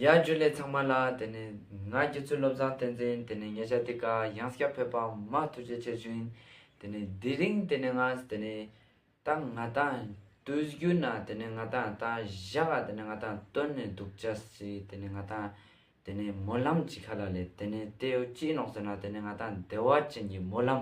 ཡ་རྒྱུ་ལས་ཚང་མ་ལ་དེ་ནས་ང་རྒྱུ་ཚུལ་བློ་བཟང་བསྟན་འཛིན་དེ་ནས་ཉེ་ཆར་དེ་ག་ཡང་སྐྱབས་ཕེབས་པ་མ་ཐུགས་རྗེ་ཆེ་བཞིན་དེ་ནས་དེ་རིང་དེ་ནས་ང་དེ་ནས་ད་ང་དང་དུས་རྒྱུན་ན་དེ་ནས་ང་དང་ད་བཞག་ག་དེ་ནས་ང་དང་སྟོན་ནས་འདུག་བྱ་སྲིད་དེ་ནས་ང་དང་དེ་ནས་སྨོན་ལམ་གྱི་ཁ་ལ་ལས་དེ་ནས་དེ་ཡོ་ཅི་ནོག་ཟེར་ན་དེ་ནས་ང་དང་བདེ་བ་ཅན་གྱི་སྨོན་ལམ།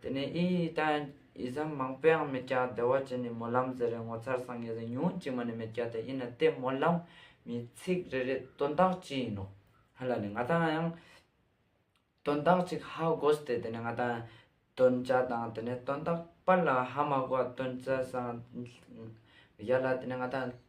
དེ་ནས་ཨིན་ཡིག་ལྟ་ཡང་ཡིག་ཟམ་མང་པོ་ཡང་མེད་ཀྱང་བདེ་བ་ཅན་ནས་སྨོན་ལམ་ཟེར་རེ་ངོ་མཚར་སངས་རྒྱས་ཟེར་ཉུང་གཅིག་མ་ནས་མེད་ཀྱང་དེ་ཨིན་ན་དེ་སྨོན་ལམ་མི་ཚིག་རེ་རེ་དོན་དག་ཅི་ཡིན་ནོ། ཧ་ལ་ནི་ང་དང་ཡང་དོན་དག་ཅིག་ཧ་གོ་སྟེ་དེ་ནས་ང་དང་ཡང་དོན་བྱ་དང་དེ་ནས་དོན་དག་པར་ལ་ཧ་མ་གོ་བ་དོན་བྱ་སངས་རྒྱས་ལ་དེ་ནས་ང་དང་ཡང།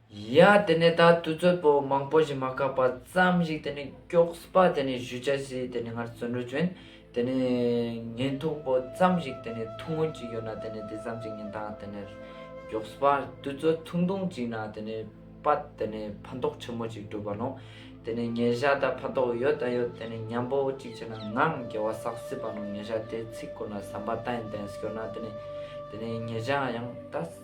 ཡ། དེ་ནས་ད་དུས་ཚོད་པོ་མང་པོ་ཞིག་མ་བཀག་པ་ཙམ་ཞིག་དེ་ནས་སྐྱོགས་པ་དེ་ནས་བཞུ་ཆ་ཞིག་དེ་ནས་ངར་བཙོན་འགྲུལ་བྱོན། དེ་ནས་ཉིན་ཐུག་པོ་ཙམ་ཞིག་དེ་ནས་ཐུག་སྔོན་ཅིག་ཡོད་ན་དེ་ནས་དེ་ཙམ་ཞིག་ཉིན་ཐང་དེ་ནས་སྐྱོགས་པ་དུས་ཚོད་ཐུང་ཐུང་ཅིག་ན་དེ་ནས་པ་དེ་ནས་ཕན་ཐོགས་ཆེན་མོ་ཅིག་སྒྲུབ་པ་ནོ། དེ་ནས་ཉེ་ཞག་ད་ཕན་ཐོགས་ཡོད་ད་ཡོད་དེ་ནས་ཉམས་པོ་ཅིག་བྱས་ན་ངའང་དགེ་བ་བསགས་སྲིད་པ་ནོ་ཉེ་ཞག་དེ་ཚིག་བསྐུར་ན་ཟམ་པ་ཏན་ཏན་སྐྱོར་ན་དེ་ནས་དེ་ནས་ཉེ་ཞག་ཡང་ད།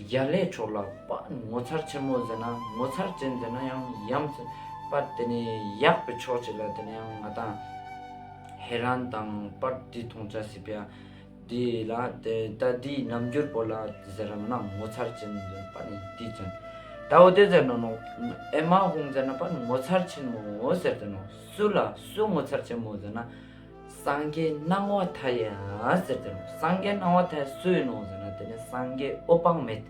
རྒྱ་ལས་འཕྲོ་བརླག་པ་ངོ་མཚར་ཆེན་མོ་ཟེར་ན་ངོ་མཚར་ཅན་དེ་ན་ཡང་ཡམ་ཟེར་པ་དེ་ནི་ཡག་པའི་ཕྱོགས་ཅིག་ལ་དེ་ན་ཡང་ང་དང་ཧེ་རན་དང་པར་དེ་མཐོང་ཆ་སྲིད་པས་དེ་ལ་དེ་ལྟ་དེའི་རྣམ་འགྱུར་པོ་ལ་ཟེར་རམ་ན་ངོ་མཚར་ཅན་ཟེར་པ་ནི་དེའི་མཚོན་དག་འོ་དེ་ཟེར་ནོ་ནོ་ཨེ་མ་ཧུང་ཟེར་ན་པར་ངོ་མཚར་ཆེན་མོ་ཟེར་དེ་ནོ་སུ་ལ་སུ་ངོ་མཚར་ཆེན་མོ་ཟེར་ན། སངས་རྒྱས་སྣང་བ་མཐའ་ཡས་ཟེར་དེ་ནང་སངས་རྒྱས་སྣང་བ་མཐའ་ཡས་སུ་ཡིན་ནོ་ཟེར་ན་དེ་ནི་སངས་རྒྱས་ཨོ་དཔག་མེད།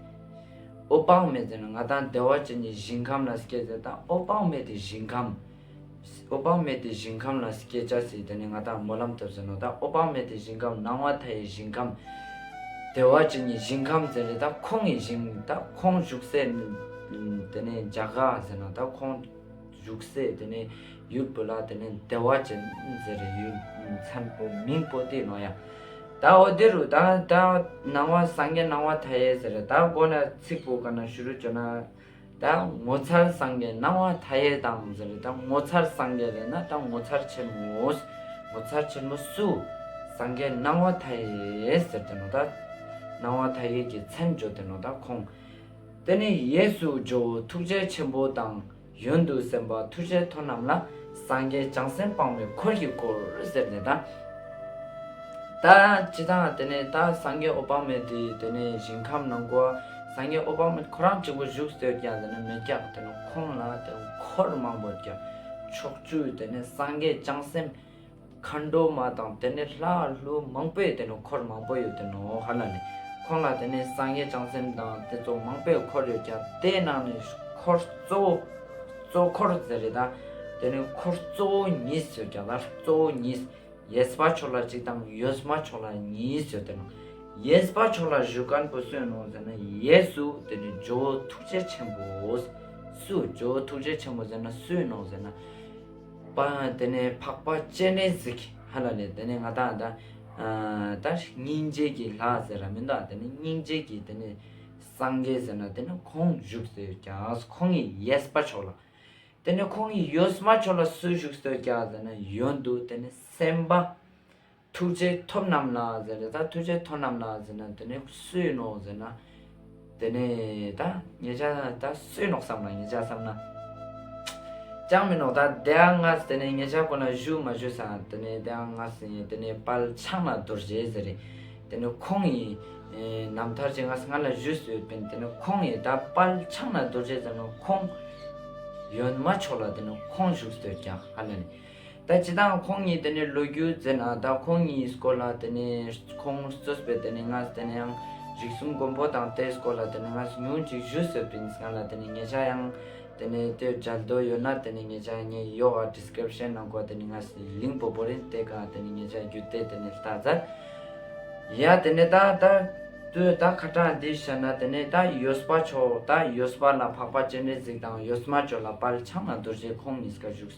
ཨོ་དཔག་མེད་ཟེར་ན་ང་དང་བདེ་བ་ཅན་གྱི་ཞིང་ཁམས་ལ་སྐྱེ་ཟེར་དང་ཨོ་དཔག་མེད་དེ་ཞིང་ཁམས། ཨོ་དཔག་མེད་དེ་ཞིང་ཁམས་ལ་སྐྱེ་བྱ་སྲིད་དེ་ནི་ང་དང་སྨོན་ལམ་ཐོབ་ཟེར་ནོ་དང་ཨོ་དཔག་མེད་དེ་ཞིང་ཁམས་སྣང་བ་མཐའ་ཡས་ཞིང་ཁམས། བདེ་བ་ཅན་གྱི་ཞིང་ཁམས་ཟེར་རེད་དང་ཁོང་གི་ཞིང་དང་ཁོང་བཞུགས་སའི་དེ་ནི་འཇའ་ག་ཟེར་ན་དང་ཁོང། བཞུགས་སའི་དེ་ནས་ཡུལ་བོད་ལ་དེ་ནས་བདེ་བ་ཅན་ཟེར་རེ་ཡུལ་མཚན་པོ་མིང་པོ་ཏི་ནོ་ཡང་ད་འོ་དེ་རུ་ད་ད་ནང་བ་སངས་རྒྱས་ནང་བ་མཐའ་ཡས་ཟེར་རེ་ད་གོ་ན་ཚིག་པོ་ག་ན་ཞུ་རུ་བྱོ་ན་ད་ངོ་མཚར་སངས་རྒྱས་ནང་བ་མཐའ་ཡས་དང་ཟེར་རེ་ད་ངོ་མཚར་སངས་རྒྱས་ལས་ན་ད་ངོ་མཚར་ཆེན་མོས་ངོ་མཚར་ཆེན་མོ་སུ་སངས་རྒྱས་ནང་བ་མཐའ་ཡས་ཟེར་དེ་ནོ་ད་ནང་བ་མཐའ་ཡས་ཀྱི་མཚན་བརྗོ་དེ་ནོ་ད་ཁོང་དེ་ནས་ཡས་སུ་བརྗོ་ཐུགས་རྗེ་ཆེན་པོ་དང། ཡོན་ཏུ་སེམས་དཔའ་མཐུ་ཆེན་མཐོ་རྣམས་ལ་སངས་རྒྱས་བྱང་སེམས་སྤངས་པའི་འཁོར་གྱིས་བསྐོར་ཟེར་ནས་དང། ད་ཅི་དང་དེ་ནས་ད་སངས་རྒྱས་ཨོ་བྷ་མས་དེ་དེ་ནས་ཞིང་ཁམས་ནང་སྒོ་སངས་རྒྱས་ཨོ་བྷ་མས་ཁོ་རང་གཅིག་པུ་བཞུགས་ཟེར་ཀྱང་དེ་ནས་མི་སྐྱབས་དེ་ནས་ཁོང་ལ་དེ་འཁོར་མང་པོ་ཀྱང་ཕྱོགས་བཅུའི་དེ་ནས་སངས་རྒྱས་བྱང་སེམས། མཁའ་འགྲོ་མ་དང་དེ་ནས་ལྷ་ཀླུ་མང་པོས་དེ་ནས་འཁོར་མང་པོ་ཡོད་དེ་ནོ་ཧ་ལ་ནི། ཁོང་ལ་དེ་ནས་སངས་རྒྱས་བྱང་སེམས་དང་དེ་ཚོ་མང་པོས་འཁོར་ཡོད་ཀྱང་དེའི་ནང་ནས་འཁོར་གཙོ་བོ། གཙོ་འཁོར་ཟེར་རེད་ད། དེ་ནས་འཁོར་གཙོ་བོ་གཉིས་ཡོད་ཀྱང་ད་གཙོ་བོ་གཉིས། ཡེས་པ་མཆོག་ལ་གཅིག་དང་ཡོས་མ་མཆོག་ལ་གཉིས་ཡོད་དེ་ནོ། ཡེས་པ་མཆོག་ལ་གཞུ་དཀར་པོ་སུས་གནང་ཟེར་ན་ཡེ་སུ་དེ་ནས་ཇོ་བོ་ཐུགས་རྗེ་ཆེན་པོ། སུ་ཇོ་བོ་ཐུགས་རྗེ་ཆེན་པོ་ཟེར་ན་སུས་གནང་ཟེར་ན། པ། དེ་ནས་འཕགས་པ་སྤྱན་རས་གཟིགས་ཧ་ལ་ལས་དེ་ནས་ང་དག་དང། དེ་སྙིང་རྗེ་གི་ལྷ་ཟེར་ར་མི་འདག་དེ་ནས་སྙིང་རྗེ་གི་དེ་ནས་སངས་རྒྱས་ཟེར་ན་དེ་ནས་ཁོང་བཞུགས་ཟེར་ཀྱང་ཁོང་གི་ཡས་པ་མཆོག་ལ། དེ་ནས་ཁོང་གི་ཡོས་མ་མཆོག་ལ་སུ་བཞུགས་ཟེར་ཀྱང་ཟེར་ན་ཡོན་དུ་དེ་ནས་སེམས་དཔའ། ཐུགས་རྗེ་ཐོབ་རྣམས་ལ་ཟེར་ནས་ད་ཐུགས་རྗེ་ཐོབ་རྣམས་ལ་ཟེར་ན་དེ་ནས་སུའི་ནོ་ཟེར་ན། དེ་ནས་ད་ངེད་ཅག་ད་སུའི་ནོག་བསམ་ན་ངེད་ཅག་བསམ་ན། ཅང་མི་ནོག་ད་དེའང་ང་དེ་ནས་ངེད་ཅག་ཁོ་ན་བཞུགས་མ་བཞུགས་ས་དེ་ནས་དེའང་ང་ཟེར་ཡིན་དེ་ནས་དཔལ་ཕྱག་ན་རྡོ་རྗེ་ཟེར་རེད་དེ་ནས་ཁོང་ཡི། ནམ་མཐར་ཅི་ང་ང་ལ་བཞུགས་སུ་ཡོད་པན་དེ་ནས་ཁོང་ཡི་ད་དཔལ་ཕྱག་ན་རྡོ་རྗེ་ཟེར་ན་ཁོང། ཡོན་མ་མཆོག་ལ་དེ་ནས་ཁོང་བཞུགས་སུ་ཡོད་ཀྱང་ཧ་ལན། ད་ཇི་ལྟའང་ཁོང་གཉིས་དེ་ནས་ལོ་རྒྱུས་མཛད་ན་ད་ཁོང་གཉིས་སྐོར་ལ་དེ་ནས་ཁོང་གཙོས་པའི་དེ་ནས་ང་དེ་ནས་ཡང་རིག་གསུམ་མགོན་པོ་དང་དེ་སྐོར་ལ་དེ་ནས་ང་ཉུང་ཅིག་ཞུ་ཟེར་བས་ང་ལ་དེ་ནས་ངེད་ཅག་ཡང་དེ་ནས་དེ་སྦྱར་འདོད་ཡོད་ན་དེ་ནས་ངེད་ཅག་ངའི་ཡོ་ག Description ནང་གོ་དེ་ནས་ང་གླིང་བུ་པོ་རེད་དེ་ག་དེ་ནས་ངེད་ཅག་བརྒྱུད་དེ་དེ་ནས་ལྟ་ཙར་ཡ་དེ་ནས་ད་ད་དུས་ད་ཁ་དྲག་འདི་བྱ་ན་དེ་ནས་ད་ཡོད་སྤ་ཆོག་ད་ཡོད་སྤ་ལ་འཕགས་པ་སྤྱན་རས་གཟིགས་དང་ཡོད་སྨྲ་ཆོས་ལ་དཔལ་ཕྱག་ན་རྡོ་རྗེ་ཁོང་གཉིས་ཀ་བཞུགས།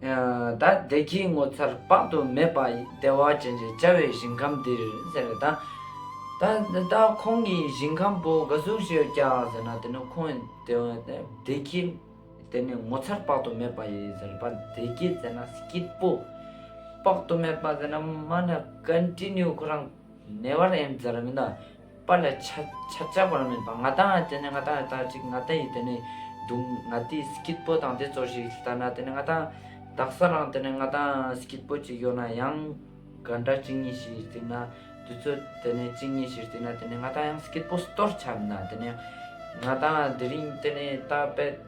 ད་བདེ་སྐྱིད་ངོ་མཚར་དཔག་ཏུ་མེད་པ་བདེ་བ་ཅན་གྱི་བྱ་བའི་ཞིང་ཁམས་འདིར་ཟེར་བ་དང། ད་ལྟ་ཁོང་གིས་ཞིང་ཁམས་པོ་འགའ་གཟུགས་ཞེས་བྱ་ཟེར་ན་དེ་ནི་ཁོང་བདེ་སྐྱིད་དེ་ནི་ངོ་མཚར་དཔག་ཏུ་མེད་པ་ཡིན་ཟེར་བ་བདེ་སྐྱིད་ཟེར་ན་སྐྱིད་པོ་དཔག་ཏུ་མེད་པ་ཟེར་ན་མ་ན་ཀན་ཏི་ནུའི་ཁོ་རང་ནེ་བར་ཨེན་ཟེར་ར་མིན་ད། པ་ལ་ཆ་ཆ་ཅག་པར་མིན་པ་ང་དང་དེ་ནི་ང་དང་ལྟར་ཅིག་ང་དེ་ཡིས་དེ་ནི་བརྡུང་ང་དེའི་སྐྱིད་པོ་དང་དེ་ཚོར་ཞིག་ལྟ་ན་དེ་ནི་ང་དང་བདག་ས་རང་དེ་ནི་ང་དང་སྐྱིད་པོ་ཅིག་ཡོད་ན་ཡང་ག་འདྲ་གཅིག་ཉིད་ཞིག་བརྩིས་ན་དུས་ཚོད་དེ་ནི་གཅིག་ཉིད་ཞིག་བརྩིས་ན་དེ་ནི་ང་དང་ཡང་སྐྱིད་པོ་སྟོར་ཆ་མིན་ན་དེ་ནི་ང་དང་དེ་རིང་དེ་ནི་རྟག་པའི།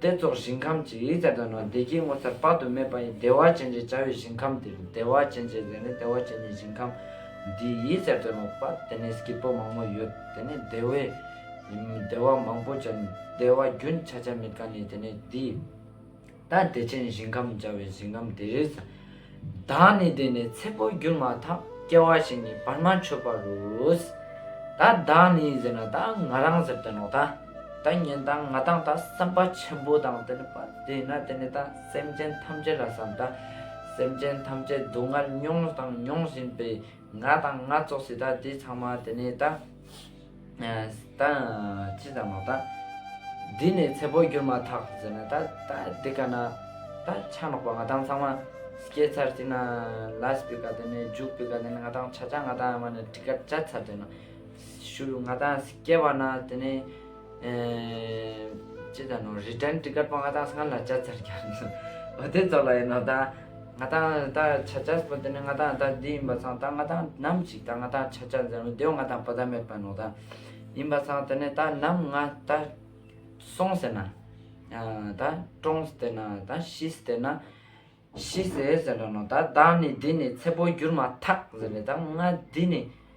དེ་རྫོགས་ཞིང་ཁམས་ཀྱི་ཡིག་བརྒྱ་དང་ནང་བདེ་དགྱེས་ངོ་མཚར་དཔག་ཏུ་མེད་པ་ཡི་བདེ་བ་ཅན་ཅེས་བྱ་བའི་ཞིང་ཁམས་དེ་རུ་བདེ་བ་ཅན་ཅེས་ཟེར་ནས་བདེ་བ་ཅན་གྱི་ཞིང་ཁམས་འདིའི་ཡིག་བརྒྱ་དང་ནང་དཔག་དེ་ནས་སྐྱེས་བུ་མང་པོ་ཡོད་དེ་ནས་བདེ་བའི་བདེ་བ་མང་པོ་ཅན་བདེ་བ་རྒྱུན་ཆགས་ཆ་མེད་གང་ལས་དེ་ནས་འདི་ལྟར་བདེ་ཆེན་ཞིང་ཁམས་བྱ་བའི་ཞིང་ཁམས་དེ་རིས་བདག་ནི་དེ་ནས་ཚེ་འཕོ་འགྱུར་མ་ཐག་སྐྱེ་བ་ཞིག་ནི་བར་མ་ཆོད་པར་རུས། ད་བདག་ནི་ཟེར་ན་ད་ང་རང་ཟེར་དོན་ནོ། ད་ད་ཉན་དང་ང་དང་ད་བསམ་པ་ཆེན་པོ་དང་དེ་ནི་པ་དེས་ན་དེ་ནི་ད་སེམས་ཅན་ཐམས་ཅད་ལ་བསམ་ད་སེམས་ཅན་ཐམས་ཅད་སྡུག་བསྔལ་མྱོང་དང་མྱོང་བཞིན་པའི་ང་དང་ང་ཙོག་སྲིད་ད་དེ་ཚང་མ་དེ་ནི་ད། ད་ཅི་ཙམ་ལོ་ད། འདི་ནས་ཚེ་བོར་གྱུར་མ་ཐག་ཟེར་ན་ད་ད་འདི་ག་ན་ད་ཆ་ལོག་པ་ང་དང་ཚང་མ་སྐྱེས་ཚར་དུས་ན་ལ་སྤི་ག་དེ་ནས་རྒྱུག་སྤི་ག་དེ་ནས་ང་དང་ཆ་ཆ་ང་དང་ང་ནས་དྲི་ཁ་འཇལ་ཚར་དུས་ན་ཞུ་རུ་ང་དང་སྐྱེས་པ་ན་དེ་ནས་ཅི་ཙམ་ལོ་རི་དྲན་དྲི་ག་པོ་ང་དང་སྔ་ལ་འཇལ་ཚར་གྱ་ལོ་དེ་ཚོ་ལ་ཡིན་ནོ་ད། ང་དང་ད་ཆ་ཇཱས་པོ་དེ་ནི་ང་དང་ད་འདི་ཡིན་པ་ཚང་ད་ང་དང་ནམ་ཞིག་ད་ང་དང་ཆ་ཆ་འཛིན་རུང་དེའོ་ང་དང་བོ་ད་མེད་པ་ནོ་ད་ཡིན་པ་ཚང་དེ་ནི་ད་ནམ་ང་ད་སོང་ཟེར་ན་ད་ཀྲོང་ཟེར་ན་ད་ཤི་ཟེར་ན་ཤི་ཟེར་ཟེར་འདྲ་ནོ་ད་བདག་ནི་འདི་ནི་ཚེ་པོ་འགྱུར་མ་ཐག་ཟེར་བས་ད་ང་འདི་ནི།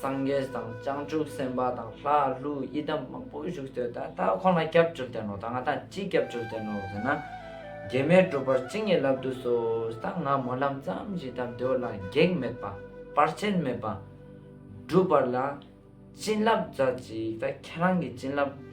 སངས་རྒྱས་དང་བྱང་ཆུབ་སེམས་དཔའ་དང་ལྷ་ཀླུ་ཡི་དམ་མང་པོ་བཞུགས་ཚོད་ད་ལྟ་ཁོང་ལ་སྐྱབས་བཅོལ་བསྟན་ནོ་ད་ང་དང་ཅི་སྐྱབས་བཅོལ་བསྟན་ནོ་ཟེར་ན། རྒྱལ་མའི་སྒྲུབ་པར་ཅི་ངེས་ལབ་དུ་གསོལ་ད་ང་སྨོན་ལམ་ཙམ་བཞིན་ད་འདོད་ལ་གེགས་མེད་པ་བར་ཆད་མེད་པ། སྒྲུབ་པར་ལ་བྱིན་རླབས་རྫ་ཅིག་ད་ཁྱེད་རང་གི་བྱིན་རླབས།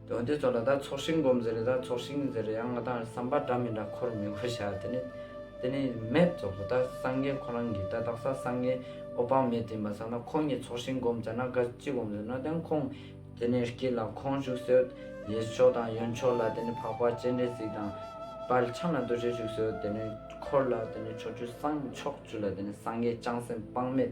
དོན་དེ་ཚོ་ལ་ད་ཚོགས་ཤིང་སྒོམ་ཟེར་རེད་ད་ཚོགས་ཤིང་ཟེར་རེད་ཡང་ང་ད་བསམ་པ་འདྲ་མི་འདྲ་འཁོར་མི་འཁོར་བྱ་དེ་ནི་དེ་ནི་མེད་རྫོགས་སོ་ད་སངས་རྒྱས་ཁོ་རང་གིས་ད་དག་ས་སངས་རྒྱས་ཨོ་པང་མེད་བཏིང་པ་ཟ་ན་ཁོང་གཉིས་ཚོགས་ཤིང་སྒོམ་ཟེར་ན་དགའ་ཅི་སྒོམ་ཟེར་ན་དེང་ཁོང་དེ་ནི་སྐྱིད་ལ་ཁོང་བཞུགས་སོད་ཡེ་མཆོག་དང་ཡོན་མཆོག་ལ་དེ་ནི་འཕགས་པ་སྤྱན་རས་གཟིགས་དང་དཔལ་ཕྱག་ན་རྡོ་རྗེ་བཞུགས་སོད་དེ་ནི་འཁོར་ལ་དེ་ནི་ཕྱོགས་བཅུ་སངས་ཕྱོགས་བཅུ་ལ་དེ་ནི་སངས་རྒྱས་བྱང་སེམས་དཔག་མེད།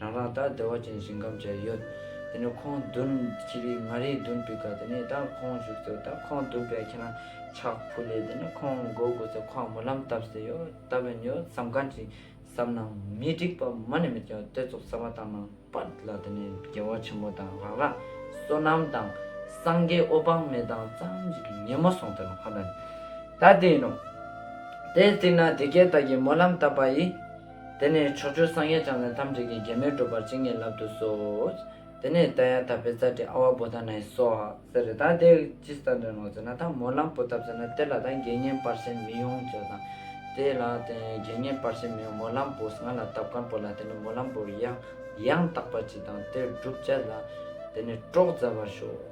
རང་རང་ལྟར་བདེ་བ་ཅན་ཞིང་ཁམས་བཅས་ཡོད། དེ་ནས་ཁོང་བདུན་གྱི་རིགས་ལྔ་རེའི་བདུན་བུ་ག་དེ་ནས་ད་ཁོང་བཞུགས་ཚུལ་ད་ཁོང་བདུན་བུ་ཁྱེད་རང་ཆགས་ཕུ་ལེ་དེ་ནས་ཁོང་མགོ་དགུ་ཚེ་ཁོང་མུ་ལམ་བཏབ་ཟེར་ཡོད་ད་བོན་ཡོད་བསམ་གང་ཅི་བསམ་ནའང་མི་འགྲིག་པ་མ་ནས་མི་ཀྱང་དེ་ཚོ་བསམ་བ་དང་ནང་པ་ལ་དེ་ནས་རྒྱལ་བ་ཆེན་མོ་དང་རང་རང་བསོད་ནམས་དང་སངས་རྒྱས་ཨོ་བང་མེ་དང་གཙང་གཅིག་གི་ཉིན་མོ་སོང་དེ་ནས་ཁོང་ད་ནས་ད་དེ་ཡིན་ནོ། དེའི་ཚིག་ན་དེ་སྐད་བཏགས་ཀྱི་མུ་ལམ་བཏབ་པ་ཡི། དེ་ནས་ཕྱོགས་བཅུར་སངས་རྒྱས་བྱང་སེམས་ཐམས་ཅད་ཀྱི་རྒྱལ་མོས་སྒྲུབ་པར་བྱིན་གྱིས་བརླབ་ཏུ་གསོལ། དེ་ནས་རྟ་ཡང་དག་པའི་ཙཀྲི་ཨ་བ་བུ་ད་ནའི་སོགས་ཟེར་རེ་ད་དེ་ཇི་ལྟར་འདྲ་ནོ་ཟེར་ན་ད་མོ་ལམ་བུ་ད་བཟོད་ན་དེ་ལ་ད་དགེ་བསྙེན་སྤར་ཤེས་མི་ཡོང་ཅོ་དང། དེ་ལ་དེ་དགེ་བསྙེན་སྤར་ཤེས་མི་ཡོང་མོ་ལམ་བུ་ང་ལ་དབབ་ཀར་བོ་ལ་དེ་ནས་མོ་ལམ་བུ་ཡང་ཡང་དག་པ་ཅི་དང་དེ་བསྒྲུབ་བྱ་ལ་དེ་ནས་ཀྲོག་མཛའ་བར་ཤོག།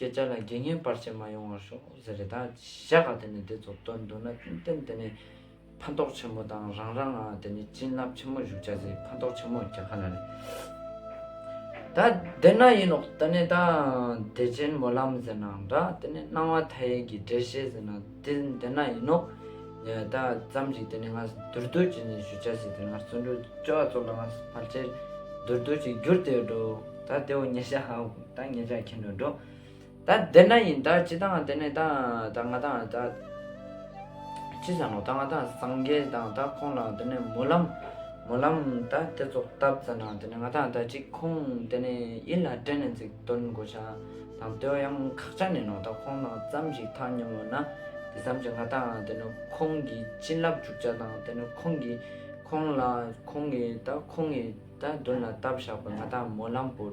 ཁྱེད་ཅག་ལ་དགེ་བསྙེན་སྤར་བྱེད་མ་ཡོང་བར་ཤོག་ཟེར་རེ་ད་བཞག་ག་དེ་ནས་དེ་ཚོ་སྟོན་འདུག་ན་ཏན་ཏན་དེ་ནས་ཕན་ཐོགས་ཆེན་མོ་དང་རང་རང་ང་དེ་ནས་བྱིན་རླབས་ཆེན་མོ་བཞུགས་བྱ་ཟེ་ཕན་ཐོགས་ཆེན་མོ་རྒྱ་ག་ན་རེད་ད་དེ་ན་ཡིན་ནོག་དེ་ནས་ད་བདེ་ཆེན་མོ་ལམ་ཟེར་ནའང་འདྲ་དེ་ནས་སྣང་བ་མཐའ་ཡས་ཀྱི་འགྲེལ་བཤད་ཟེར་ནའང་དེ་དེ་ན་ཡིན་ནོག་ད་ཙམ་ཞིག་དེ་ནས་ང་དུར་རྡོ་རྗེ་ནས་ཞུ་བྱ་ཟེ་དེ་ང་བརྩོན་འགྲུས་སྐྱོ་བ་ཚོ་ལ་ང་ཕར་ཆེར་དུར་རྡོ་རྗེ་བསྒྱུར་དེ་འགྲོ་ད་དེ་འོ་ཉེ་ཤ་ཧ། ད་ངེད་ཅག་ཁྱིམ་དུ་འགྲོ། ད་བདེར་ན་ཡིན་ད་ཅི་དང་དེ་ནས་ད་ང་དང་ད་ཅི་བྱ་ནོ་ད་ང་དང་སངས་རྒྱས་དང་ད་ཁོང་ལའང་དེ་ནས་མོ་ལམ་མོ་ལམ་ད་དེ་ཚོ་བཏབ་ཙེ་ན་དེ་ནས་ང་དང་ད་ཅི་ཁོང་དེ་ནས་ཡིད་ལ་དྲན་ནས་ཚིག་དོན་དགོད་བྱ་དང་བསྟོད་ཡང་ཁག་ཆ་ནས་ནོ་ད་ཁོང་དང་བརྩམས་ཤིག་ཐང་སྙོམས་ལོ་ན་དེ་བརྩམས་ཀྱང་ང་དང་དེ་ནས་ཁོང་གི་བྱིན་རླབས་འཇུག་བྱ་དང་དེ་ནས་ཁོང་གི་ཁོང་ལ་ཁོང་གི་ད་ཁོང་གི་ད་མདུན་ལ་བཏབ་བཞག་པས་ང་དང་མོ་ལམ་པོ།